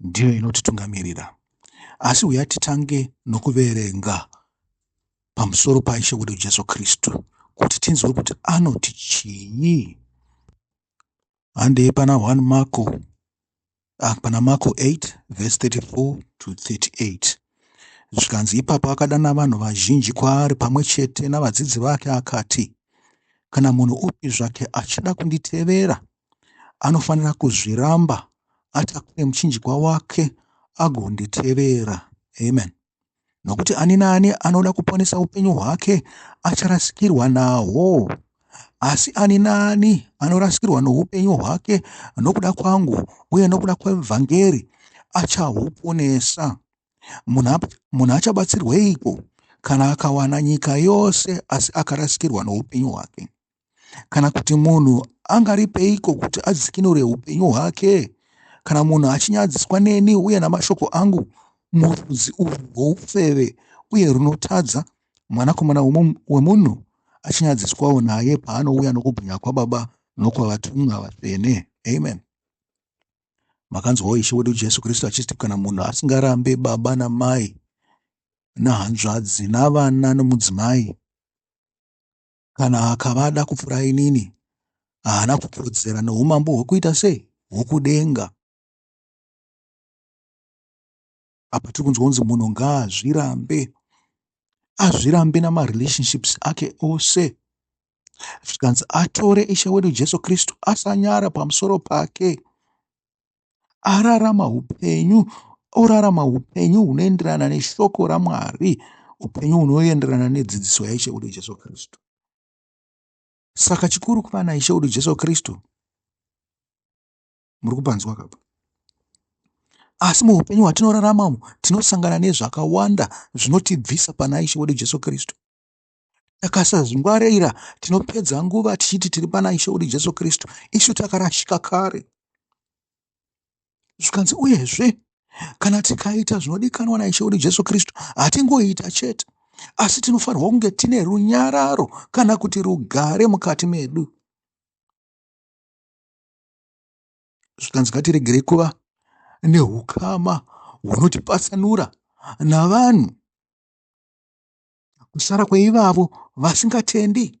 ndiyo inotitungamirira. Asi huya titange nokuverenga pamusoro paIshe wedu Jesu Kristu kuti tinzwe kuti anoti chii. Handei pana 1 Marko ah, pana Marko 8 verse 34 to 38 zvikanzi ipapo akadana vanhu vazhinji kwaari pamwe chete navadzidzi vake akati kana munhu upi zvake achida kunditevera anofanira kuzviramba atakure muchinjikwa wake agonditevera amen nokuti ani naani anoda kuponesa upenyu hwake acharasikirwa nahwo asi ani naani anorasikirwa noupenyu hwake nokuda kwangu uye nokuda kwevhangeri achahuponesa munhu achabatsirweiko kana akawana nyika yose asi akarasikirwa noupenyu hwake Kana kuti munhu angaripeiko kuti adzikinure upenyu hwake? Kana munhu achinyadziswa neni uye namashoko angu murudzi urwu rwoufeve uye runotadza, Mwanakomana wemunhu achinyadziswawo naye paanouya nokubwinya kwaBaba nokwavatumwa vatsvene. Amen. Makanzwawo Ishe wedu Jesu Kristu achiti kana munhu asingarambe baba namai nahanzvadzi navana nomudzimai Kana akava ada kupfuura inini, haana kukodzera noumambo hwokuita sei? Hwokudenga. Apa tiri kunzwa kunzi munhu ngaazvirambe, azvirambe namarelationships ake ose, zvikanzi atore Ishe wedu Jesu Kristu, asanyara pamusoro pake. ararama upenyu orarama upenyu hunoenderana neshoko ramwari upenyu hunoenderana nedzidziso yaishe wedu jesu kristu saka chikuru kuva naishe wedu jesu kristu muri kupanzwa kapa asi muupenyu hwatinoraramamo tinosangana nezvakawanda zvinotibvisa pana ishe wedu jesu kristu Takasazvingwarira tinopedza nguva tichiti tiri pana Ishe wedu Jesu Kristu, isu takarashika kare. Zvikanzi uyezve kana tikaita zvinodikanwa naishe wedu jesu kristu hatingoita chete asi tinofanirwa kunge tine runyararo kana kuti rugare mukati medu zvikanzi ngatiregerei kuva neukama hunotipatsanura navanhu kusara kweivavo vasingatendi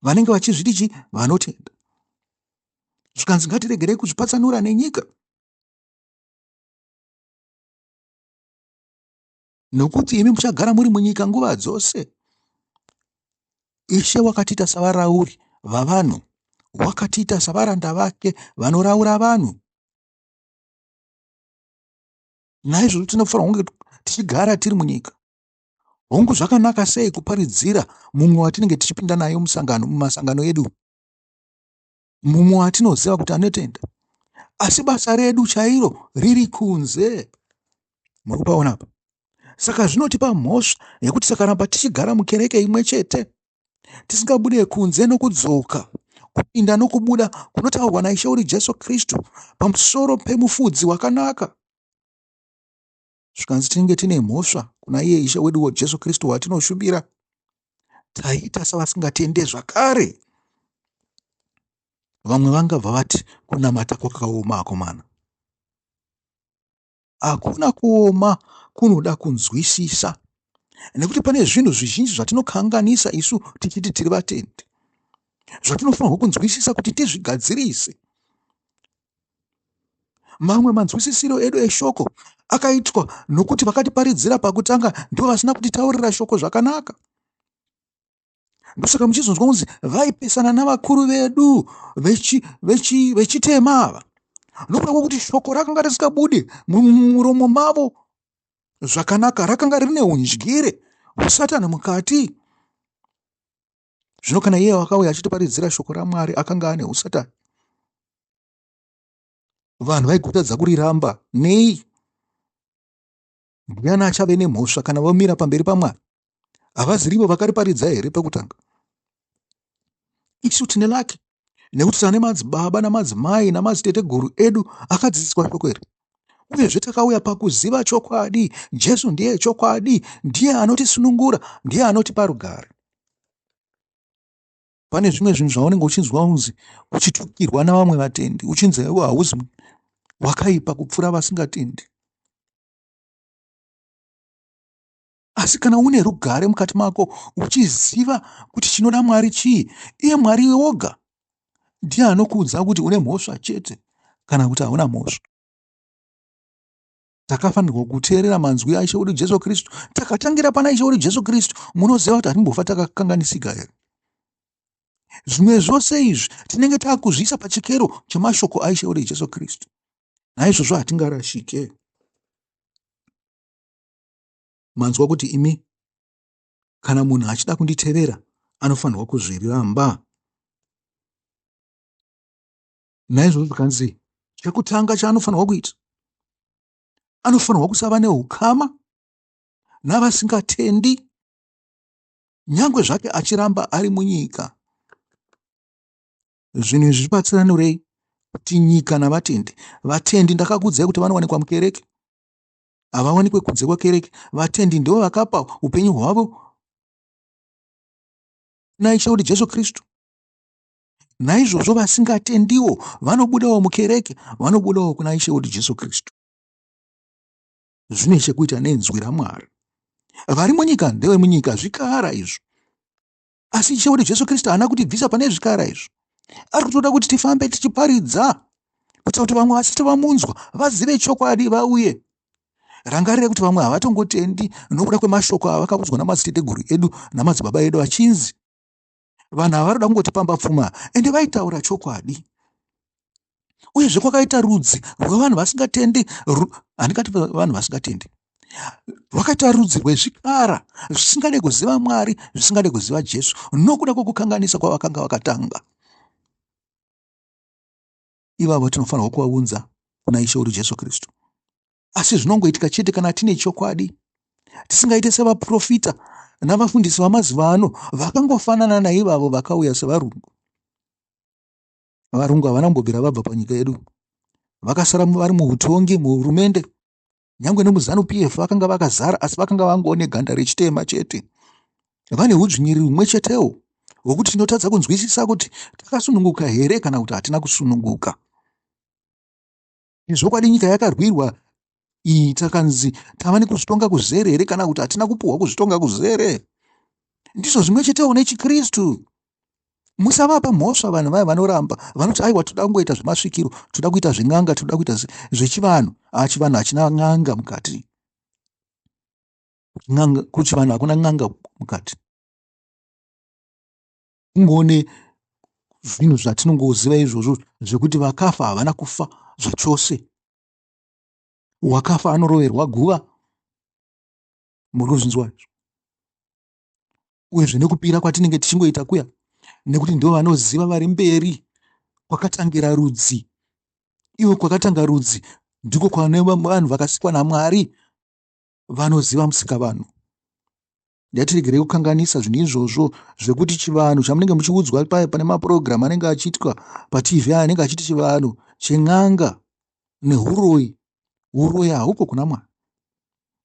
vanenge vachizviti chi vanotenda zvikanzi ngatiregerei kuzvipatsanura nenyika nokuti imi muchagara muri munyika nguva dzose ishe wakatiita savarauri vavanhu wakatiita savaranda vake vanoraura vanhu Naizvozvo tinofanira kunge tichigara tiri munyika. Hongu, zvakanaka sei kuparidzira mumwe watinenge tichipinda naye musangano, mumasangano edu, mumwe watinoziva kuti anotenda, asi basa redu chairo riri kunze. Muri kupaona apa? Saka zvinotipa mhosva yekuti tisakaramba tichigara mukereke imwe chete. tisingabude kunze nokudzoka, kupinda nokubuda kunotaurwa naIshe uri Jesu Kristu pamusoro pemufudzi wakanaka. Zvikanzi tinenge tine mhosva kuna iye Ishe weduwo Jesu Kristu watinoshumira, taiita savasingatende zvakare. Vamwe vangabva vati kunamata kwakaoma akomana. hakuna kuoma kunoda kunzwisisa nekuti pane zvinhu zvizhinji zvatinokanganisa isu tichiti tiri vatendi zvatinofanirwa kunzwisisa kuti tizvigadzirise mamwe manzwisisiro edu eshoko akaitwa nokuti vakatiparidzira pakutanga ndivo vasina kutitaurira shoko zvakanaka ndosaka muchizonzwa kunzi vaipesana navakuru vedu vechitema ava nokuda kwekuti shoko rakanga risikabude mumuromo mavo zvakanaka rakanga rine undyire hwesatani mukati zvino kana iye wakauya achitiparidzira shoko ramwari akanga ane usatani vanhu vaigotadza kuriramba nei Ndiani achave nemhosva kana vomira pamberi paMwari? Havazirivo vakariparidza here pekutanga? Isu tine laki nekuti tane madzibaba namadzimai namadziteteguru edu akadzidziswa shoko iri uyezve takauya pakuziva chokwadi jesu ndiye chokwadi ndiye anotisunungura ndiye anotipa rugare pane zvimwe zvinhu zvaunenge uchinzwa unzi uchitukirwa navamwe vatendi uchinzi iwe hauzi wakaipa kupfuura vasingatendi asi kana une rugare mukati mako uchiziva kuti chinoda mwari chii iye mwari woga ndiye anokuudza kuti une mhosva chete kana kuti hauna mhosva takafanirwa kuteerera manzwi aishe wedu jesu kristu takatangira pana ishe wedu jesu kristu munoziva kuti hatimbofa takakanganisika here zvimwe zvose izvi tinenge taakuzviisa pachikero chemashoko aishe wedu jesu kristu naizvozvo hatingarashike manzwa kuti imi kana munhu achida kunditevera anofanirwa kuzviramba naizvozvo zvikanzi chekutanga chaanofanirwa kuita anofanirwa kusava neukama navasingatendi nyange zvake achiramba ari munyika zvinhu izvi zvibatsiranurei kuti nyika navatendi vatendi ndakakudzai kuti vanowanikwa mukereke havawanikwe kunze kwekereke vatendi ndivo vakapa upenyu hwavo naishe kuti jesu kristu Naizvozvo vasingatendiwo vanobudawo mukereke, vanobudawo kuna Ishe wedu Jesu Kristu. Zvine chekuita nenzwi raMwari. Vari munyika ndevemunyika, zvikara izvo. Asi Ishe wedu Jesu Kristu haana kutibvisa pane zvikara izvo. Ari kutoda kuti tifambe tichiparidza, kuitira kuti vamwe vasati vamunzwa vazive chokwadi vauye. Rangarire kuti vamwe havatongotendi nokuda kwemashoko avakaudzwa namadziteteguru edu namadzibaba edu achinzi, vanhu ava vanoda kungoti pamba pfuma ende vaitaura chokwadi uyezve kwakaita rudzi rwevanhu vasingatendi handikati vanhu vasingatendi rwakaita rudzi rwezvikara zvisingade kuziva mwari zvisingade kuziva jesu nokuda kwokukanganisa kwavakanga vakatanga ivavo tinofanirwa kuvaunza kuna Ishe wedu Jesu Kristu. Asi zvinongoitika chete kana tine chokwadi, tisingaite sevaprofita navafundisi vamazuva ano vakangofanana naivavo vakauya sevarungu. Varungu havana kumbobvira vabva panyika yedu, vakasara vari muutongi, muhurumende, nyangwe nemuzanu pf vakanga vakazara asi vakanga vangoo neganda rechitema chete vane udzvinyiriri humwe chetewo hwokuti tinotadza kunzwisisa kuti takasununguka here kana kuti hatina kusununguka zvokwadi nyika yakarwirwa iyi takanzi tava nekuzvitonga kuzere here kana kuti hatina kupuhwa kuzvitonga kuzere ndizvo zvimwe chetewo nechikristu musavapa mhosva vanhu vaya vanoramba vanoti aiwa toda kungoita zvemasvikiro toda kuita zven'anga toda kuita zvechivanhu haa chivanhu hachina n'anga mukati n'anga kuchivanhu hakuna n'anga mukati kungoone zvinhu zvatinongoziva izvozvo zvekuti vakafa havana kufa zvachose wakafa anoroverwa guva muri kuzvinzwa izvo uyezve nekupira kwatinenge tichingoita kuya nekuti ndivo vanoziva vari mberi kwakatangira rudzi ivo kwakatanga rudzi ndiko kwane vanhu vakasikwa namwari vanoziva musika vanhu yatiregerei kukanganisa zvinhu izvozvo zvekuti chivanhu chamunenge muchiudzwa paya pane mapurogiramu anenge achiitwa patv aya anenge achiti chivanhu chen'anga nehuroyi uroyi haupo kuna mwari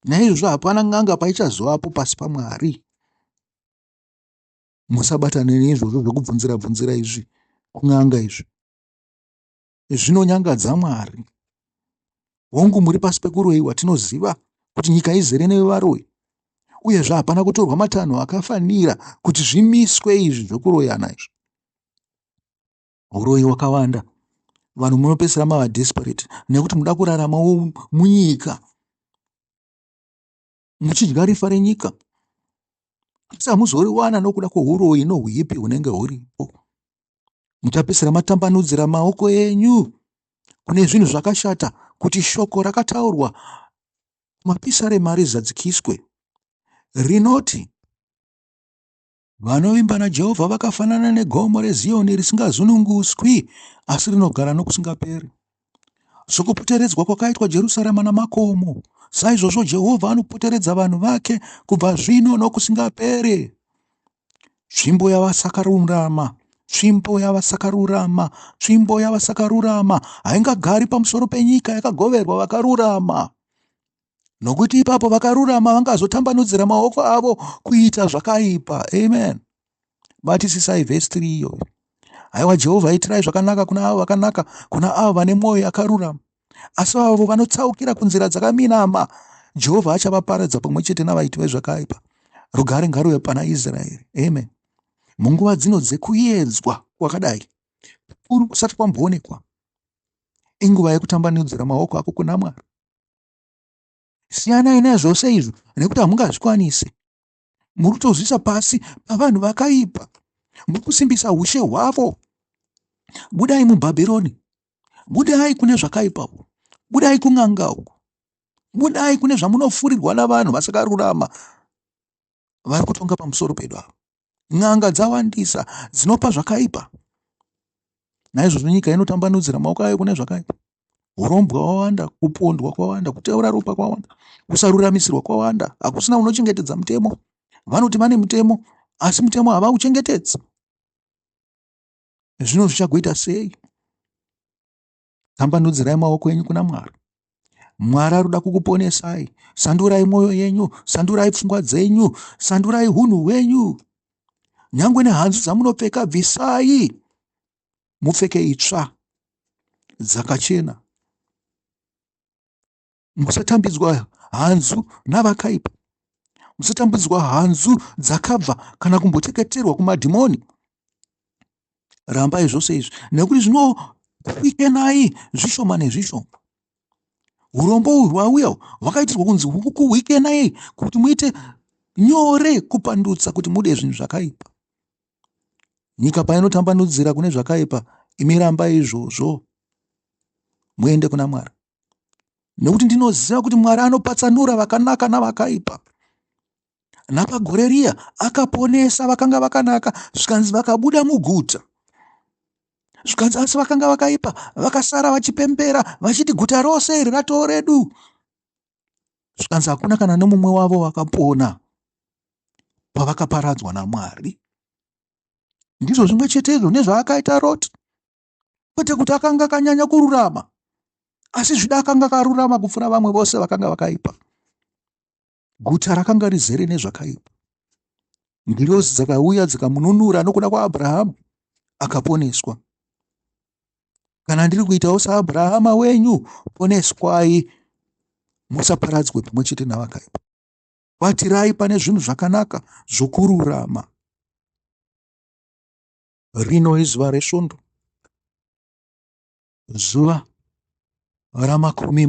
naizvozvo hapana n'anga paichazovapo pasi pamwari musabatane neizvozvo zvekubvunzira bvunzira izvi kun'anga izvi zvinonyangadza mwari hongu muri pasi pekuroyiwa tinoziva kuti nyika izere nevaroyi uyezve hapana kutorwa matanho akafanira kuti zvimiswe izvi zvekuroyana izvi huroyi wakawanda vanhu munopesera mava desperate nekuti muda kurarama munyika muchidya rifa renyika asi hamuzoriwana nokuda kwohuroyi nohuipi hunenge huripo muchapesera matambanudzira maoko enyu kune zvinhu zvakashata kuti shoko rakataurwa mapisa remari zadzikiswe rinoti Vanovimba naJehovha vakafanana negomo reZiyoni risingazununguswi, asi rinogara nokusingaperi. Sokupoteredzwa kwakaitwa Jerusarema namakomo, saizvozvo Jehovha anopoteredza vanhu vake kubva zvino nokusingaperi. Tsvimbo yavasakarurama tsvimbo yavasakarurama tsvimbo yavasakarurama haingagari pamusoro penyika yakagoverwa vakarurama nokuti ipapo vakarurama vangazotambanudzira maoko avo kuita zvakaipa amen batisisai vhesi 3 iyoyo haiwa jehovha itirai zvakanaka kuna avo vakanaka kuna avo vane mwoyo yakarurama asi avo vanotsaukira kunzira dzakaminama jehovha achavaparadza pamwe chete navaiti vezvakaipa rugare ngaruve pana israeri amen munguva dzino dzekuyedzwa kwakadai kuri kusati kwamboonekwa inguva yekutambanudzira maoko ako kuna mwari siyanai nezvose izvo nekuti hamungazvikwanise muri kutozviisa pasi pavanhu vakaipa muri kusimbisa ushe hwavo budai mubhabhironi budai kune zvakaipa uku budai kun'anga uku budai kune zvamunofurirwa navanhu vasakarurama vari kutonga pamusoro pedu ava n'anga dzawandisa dzinopa zvakaipa naizvozvo nyika inotambanudzira maoko ayo kune zvakaipa urombwa wawanda kupondwa kwawanda kuteura ropa kwawanda kusaruramisirwa kwawanda hakusina unochengetedza mutemo vanoti vane mutemo asi mutemo havauchengetedzi zvino zvichagoita sei tambanudzirai maoko enyu kuna mwari mwari aruda kukuponesai sandurai mwoyo yenyu sandurai pfungwa dzenyu sandurai hunhu hwenyu nyange nehanzu dzamunopfeka bvisai mupfeke itsva dzakachena Musatambidzwa hanzu navakaipa. Musatambidzwa hanzu dzakabva kana kumboteketerwa kumadhimoni. Rambai zvose izvi nekuti zvinokuikenai zvishoma nezvishoma. Urombo uhwu hwauya hwakaitirwa kunzi hukuikenai kuti muite nyore kupandutsa kuti mude zvinhu zvakaipa. Nyika painotambanudzira kune zvakaipa, imi rambai izvozvo muende kuna Mwari. nekuti ndinoziva kuti mwari anopatsanura vakanaka navakaipa napagore riya akaponesa vakanga vakanaka zvikanzi vakabuda muguta zvikanzi asi vakanga vakaipa vakasara vachipembera vachiti guta rose iri ratoo redu zvikanzi hakuna kana nomumwe wavo vakapona pavakaparadzwa namwari ndizvo zvimwe chetezvo nezvaakaita roti kwete kuti akanga akanyanya kururama asi zvida akanga akarurama kupfuura vamwe vose vakanga vakaipa guta rakanga rizere nezvakaipa ngirozi dzakauya dzikamununura nokuda kwaabrahamu akaponeswa kana ndiri kuitawo saabrahama wenyu poneswai musaparadzwe pamwe chete navakaipa batirai pane zvinhu zvakanaka zvokururama Rino izuva resvondo, zuva ramakumi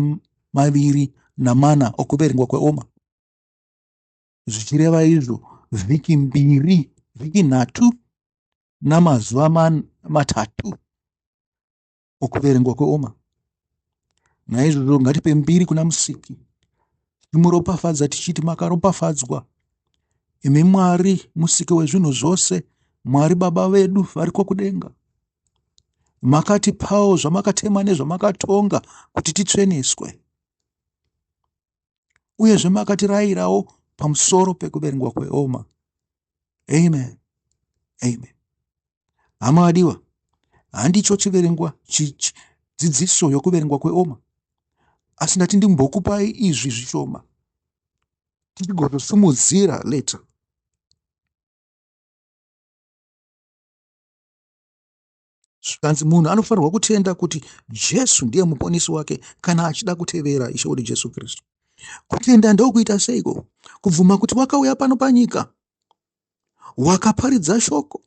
maviri namana okuverengwa kweoma, zvichireva izvo vhiki mbiri, vhiki nhatu namazuva matatu okuverengwa kweoma naizvozvo ngatipe mbiri kuna musiki timuropafadza tichiti makaropafadzwa imi mwari musiki wezvinhu zvose mwari baba vedu variko kudenga makatipawo zvamakatema nezvamakatonga kuti titsveneswe uyezve makatirayirawo pamusoro pekuverengwa kweoma amen amen Hama vadiwa, handicho chiverengwa dzidziso yokuverengwa kweoma, asi ndati ndimbokupai izvi zvishoma tichigozosimudzira later. zvikanzi munhu anofanirwa kutenda kuti jesu ndiye muponisi wake kana achida kutevera ishe wedu jesu kristu kutenda ndokuita seiko kubvuma kuti wakauya pano panyika wakaparidza shoko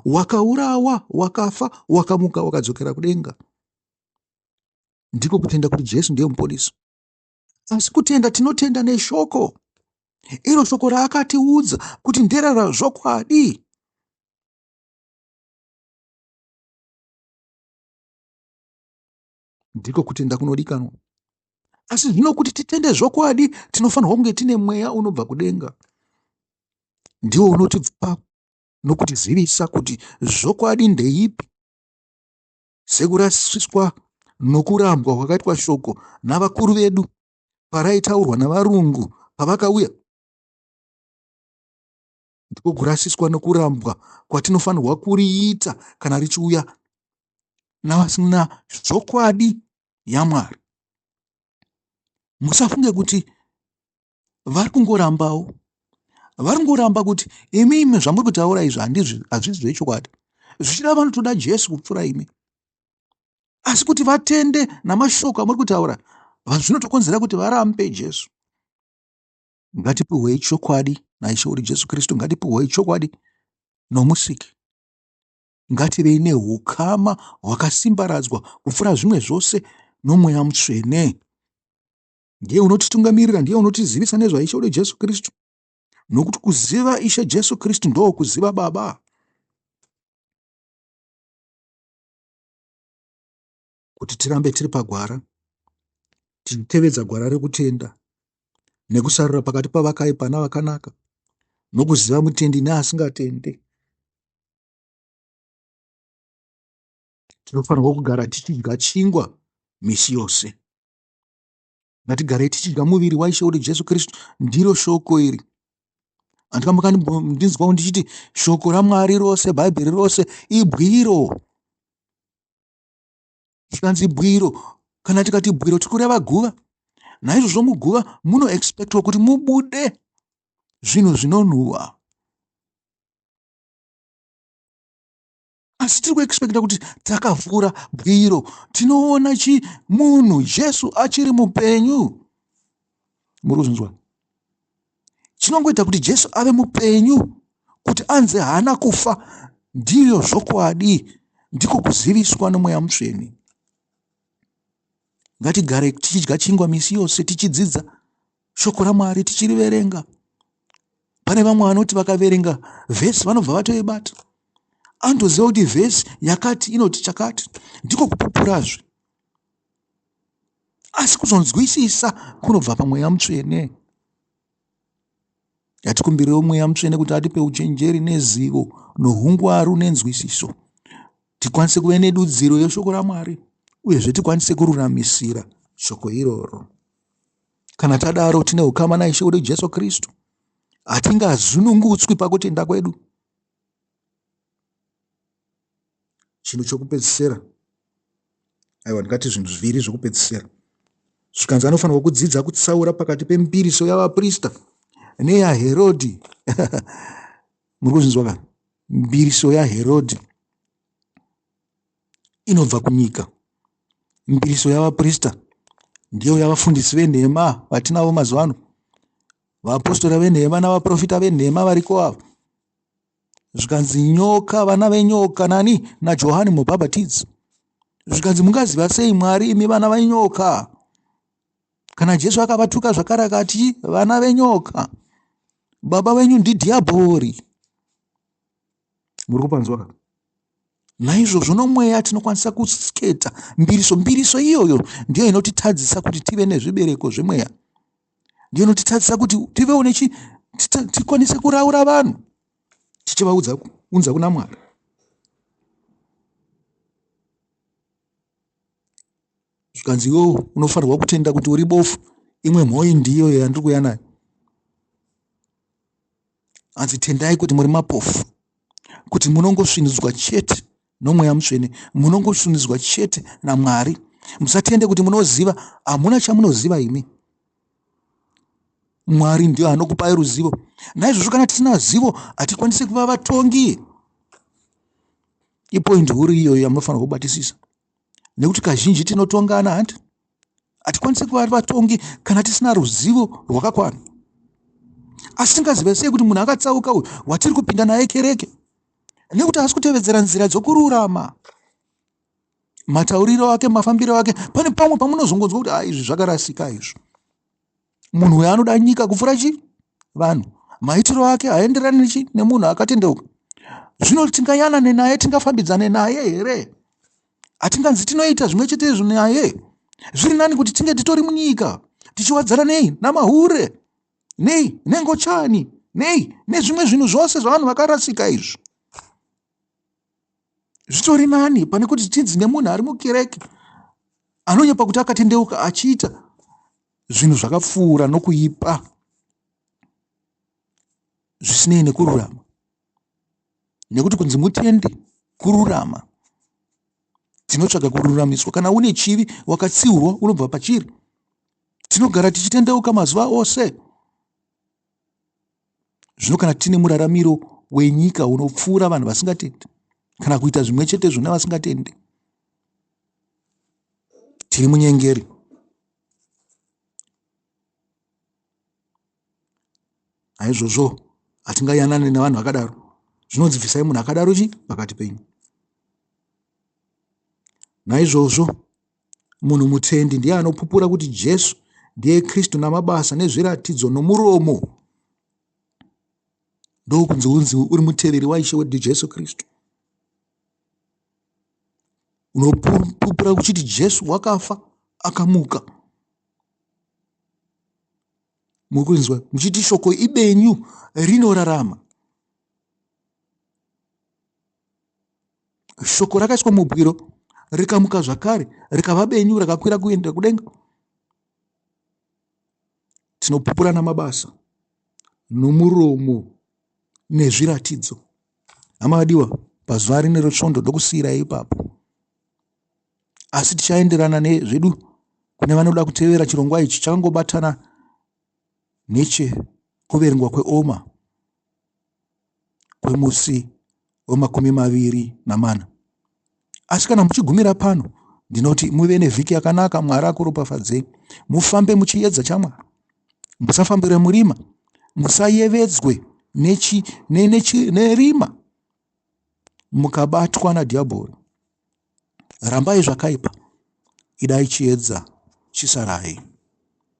wakaurawa wakafa wakamuka wakadzokera kudenga ndiko kutenda kuti jesu ndiye muponisi asi kutenda tinotenda neshoko iro shoko raakatiudza kuti nderera zvokwadi ndiko kutenda kunodikanwa asi zvino kuti titende zvokwadi tinofanirwa kunge tine mweya unobva kudenga ndiwo unotipa nokutizivisa kuti zvokwadi ndeipi sekurasiswa nokurambwa kwakaitwa shoko navakuru vedu paraitaurwa navarungu pavakauya ndiko kurasiswa nokurambwa kwatinofanirwa kuriita kana richiuya navasina zvokwadi yamwari musafunge kuti vari kungorambawo vari kungoramba kuti imi imi zvamuri kutaura izvi handizvi hazvizi zvechokwadi zvichida vanotoda jesu kupfuura imi asi kuti vatende namashoko amuri kutaura zvinotokonzera kuti varambe jesu Ngatipiwei chokwadi naIshe wedu Jesu Kristu, ngatipiwei chokwadi noMusiki. Ngativei neukama hwakasimbaradzwa kupfuura zvimwe zvose noMweya Mutsvene. Ndiye unotitungamirira, ndiye unotizivisa nezvaIshe wedu Jesu Kristu, nokuti kuziva Ishe Jesu Kristu ndoo kuziva Baba. kuti tirambe tiri pagwara tichitevedza gwara rekutenda nekusarura pakati pavakaipa navakanaka nokuziva mutendi neasingatende tinofanirwa kugara tichidya chingwa misi yose ngatigarei tichidya muviri waishe uri jesu kristu ndiro shoko iri handika makandinzwawo ndichiti shoko ramwari rose bhaibheri rose ibwiro zvikanzi bwiro kana tikati bwiro tiri kureva guva naizvozvo muguva munoexpectwa kuti mubude zvinhu zvinonhuwa asi tiri kuexpecta kuti takavhura bwiro tinoona chi munhu jesu achiri mupenyu muri kuzvinzwa Chinongoita kuti Jesu ave mupenyu kuti anzi haana kufa ndiyo zvokwadi ndiko kuziviswa nomweya mutsvene. Ngatigare tichidya chingwa misi yose tichidzidza shoko raMwari tichiriverenga. Pane vamwe vanoti vakaverenga vhesi vanobva vatoibata. Anotoziva kuti vhesi yakati inoti chakati ndiko kupupurazve. asi kuzonzwisisa kunobva pamweya mutsvene yatikumbirewo mweya mutsvene kuti atipe uchenjeri nezivo nohungwaru nenzwisiso tikwanise kuve nedudziro yeshoko ramwari uyezve tikwanise kururamisira shoko iroro kana tadaro tine ukama naishe wedu jesu kristu hatingazunungutswi pakutenda kwedu chinhu chokupedzisira aiwa ndingati zvinhu zviviri zvokupedzisira zvikanzi anofanirwa kudzidza kutsaura pakati pemipiriso yavaprista neyaherodhi muri kuzvinzwa ka mbiriso yaherodhi inobva kunyika mbiriso yavaprista ndiyo yavafundisi venhema vatinavo mazuva ano vaapostora venhema navaprofita venhema variko ava zvikanzi nyoka vana venyoka nani najohani mubhabhatidzi zvikanzi mungaziva sei mwari imi vana venyoka kana jesu akavatuka zvakare akati vana venyoka baba venyu ndidhiabhori muri kupanzwa ka naizvozvo nomweya tinokwanisa kusketa mbiriso mbiriso iyoyo ndiyo inotitadzisa kuti tive nezvibereko zvemweya ndiyo inotitadzisa kuti tivewo nechi tikwanise kuraura vanhu tichivaudza unza kuna mwari zvikanzi iwo unofanirwa kutenda kuti uri bofu imwe mhoyi ndiyo yandiri kuya nayo hanzi tendai kuti muri mapofu kuti munongosvinudzwa chete nomweya mutsvene munongosunidzwa chete namwari musatende kuti munoziva hamuna chamunoziva imi mwari ndiyo anokupai ruzivo naizvozvo kana tisina zivo hatikwanise kuva vatongi ipoindi huru iyoyo yamunofanira kubatisisa nekuti kazhinji tinotongana hanti Hatikwanise kuva vatongi kana tisina ruzivo rwakakwana. Asi tingaziva sei kuti munhu akatsauka uyu watiri kupinda naye kereke? Nekuti haasi kutevedzera nzira dzokururama. Matauriro ake, mafambiro ake, pane pamwe pamunozongonzwa kuti izvi zvakarasika izvo. munhu uyo anoda nyika kupfuura chi vanhu maitiro ake haenderani nechi nemunhu akatendeuka zvino tingayanane naye tingafambidzane naye here hatinganzi tinoita zvimwe chete izvo naye zviri nani kuti tinge titori munyika tichiwadzana nei namahure nei nengochani nei nezvimwe zvinhu zvose zvavanhu vakarasika izvi zvitori nani pane kuti tinzi nemunhu ari mukereke anonyepa kuti akatendeuka achiita zvinhu zvakapfuura nokuipa zvisinei nekururama nekuti kunzi mutende kururama tinotsvaga kururamiswa kana une chivi wakatsiurwa unobva pachiri tinogara tichitendeuka mazuva ose zvino kana tine muraramiro wenyika unopfuura vanhu vasingatendi kana kuita zvimwe chete zvona vasingatendi tiri munyengeri aizvozvo hatingayanane nevanhu vakadaro zvinonzi bvisai munhu akadaro chi pakati penyu naizvozvo Munhu mutendi ndiye anopupura kuti Jesu ndiye Kristu namabasa nezviratidzo nomuromo. Ndokunzi unzi uri muteveri waIshe wedu Jesu Kristu. Unopupura kuchiti Jesu wakafa akamuka. Mukunzwa muchiti shoko ibenyu rinorarama. shoko rakaiswa mubwiro rikamuka zvakare rikava benyu rakakwira kuenda kudenga tinopupurana mabasa nomuromo nezviratidzo hama vadiwa pazuva rine rotsvondo ndokusiyirai ipapo asi tichaenderana nezvedu kune vanoda kutevera chirongwa ichi chakangobatana nechekuverengwa kweoma kwemusi wemakumi maviri namana asi kana muchigumira pano ndinoti muve nevhiki yakanaka mwari akuropafadzei mufambe muchiedza chamwari musafambire murima musayevedzwe nechi, ne, nechi, nerima mukabatwa nadhiabhori rambai zvakaipa idai chiedza chisarai